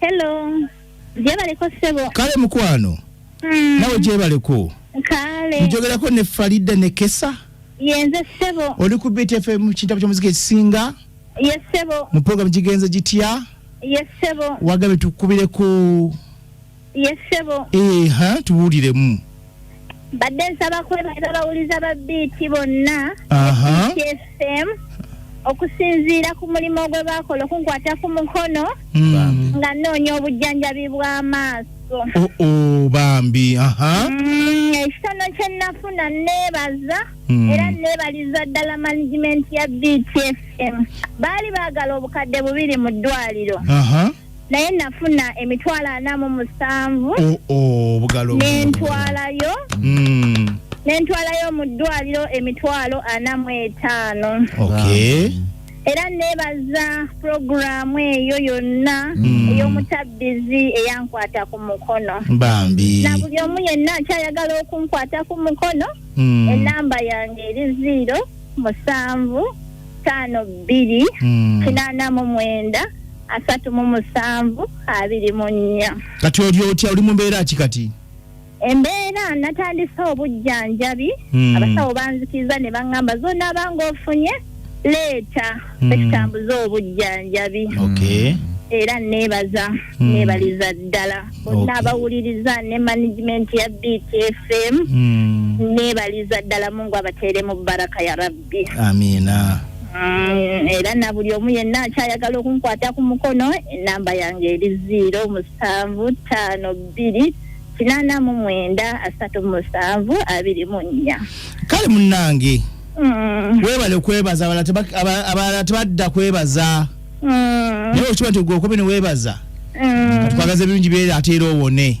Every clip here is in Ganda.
Hello. Jebaleko sebo. Kale mukwano. Mm. Nawe jebaleko. Kale. Njogerako ne Farida ne Kesa. Yenze sebo. Oli ku Beat FM kitabu ky'omuziki ekisinga. Yes sebo. Mu program gigenze gitya? Yes sebo. Wagabe tukubireko. Yes, sebo. Eh, ha, tuwulire mu. Bade nsaba kwebaza bawuliza ba BT bonna. Aha. KSM. okusinziira ku mulimu ogwe baakola okunkwata ku mukono hmm. nga nnoonya obujjanjabi bw'amaaso oh, oh, bambi hmm, ekitono kye nnafuna nneebaza hmm. era nneebaliza ddala management ya btfm baali baagala obukadde bubiri mu ddwaliro naye nafuna emitwalo ana mu musanvu nentwalayo hmm. nentwalayo mu ddwaliro emitwalo ana mu etaano era nebaza puroguramu eyo yonna hmm. ey'omutabbizi eyankwata ku mukono bambi na buli omu yenna akyayagala okunkwata ku mukono hmm. enamba yange eri ziiro musanvu ttaano bbiri kinaana mu mwenda asatu mu musanvu abiri mu nnya kati oli otya oli mu mbeera ki kati embeera natandise obujjanjabi hmm. abasawo banzikiriza ne baŋŋamba zonaaba ng'ofunye leeta hmm. etutambuza obujjanjabi era neebaza hmm. neebaliza ddala bonna abawuliriza ne management ya btfm neebaliza ddala mungu abateeremu baraka ya rabbi bye amiina Mm, era na buli omu yenna akyayagala okunkwata ku mukono enamba yange eri ziiro musanvu ttaano bbiri kinaana mu mwenda asatu musanvu abiri mu nnya kale munnange mm. webale kwebaza abalala tebadda kwebaza mm. naye okiba nti ogwe okobe ne webaza mm. twagaza ebirungi byera ateera owone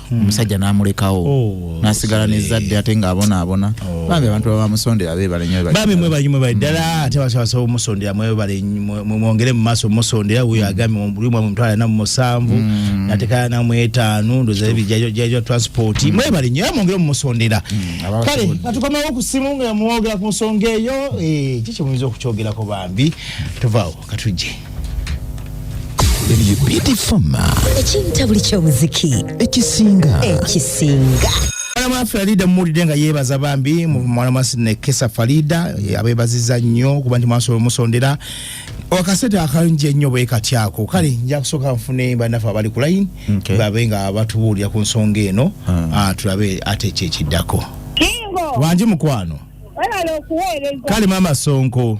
hmm. omusajja n'amulekawo oh, nasigala nezadde ate ng'abonaabona oh. bambi abantu babamusondera bebalenybambi mwebalimwe bali ddala hmm. ate basabasaba omusondera mwebale-mwongere mu maaso musondera wuyo hmm. agambe mulimu amwe mutwala namu musanvu natekala namu etaanu ndoza bijajwa transport mwebale nyo era mwongere mumusondera kale natukomawo ku simu nga yamwogera ku nsonga eyo eh, kiki muyinza okukyogerako bambi tuvaawo katujje ebyo bitifama ekinta buli kyomuziki ekisinga ekisinga Mwalama Farida muwulidde nga yeebaza bambi mwalama Nekesa Farida eh, abeebaziza nnyo kuba nti mwasobola omusondera akasete akalungi ennyo bwe kati ako kale nja kusooka nfune bannaffe abali ku layini babe nga batubuulira ku nsonga eno ah. Ah, tulabe ate ekyo ekiddako wangi mukwano kale maama Sonko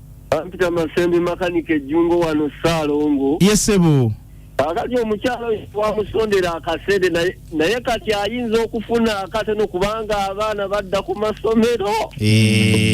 Bampita Masembi makanika ejjungo wano Ssaalongo. Ye ssebo. Kakati omukyala oyo twamusondera akasente naye kati ayinza okufuna akatono kubanga abaana badda ku masomero. Eh.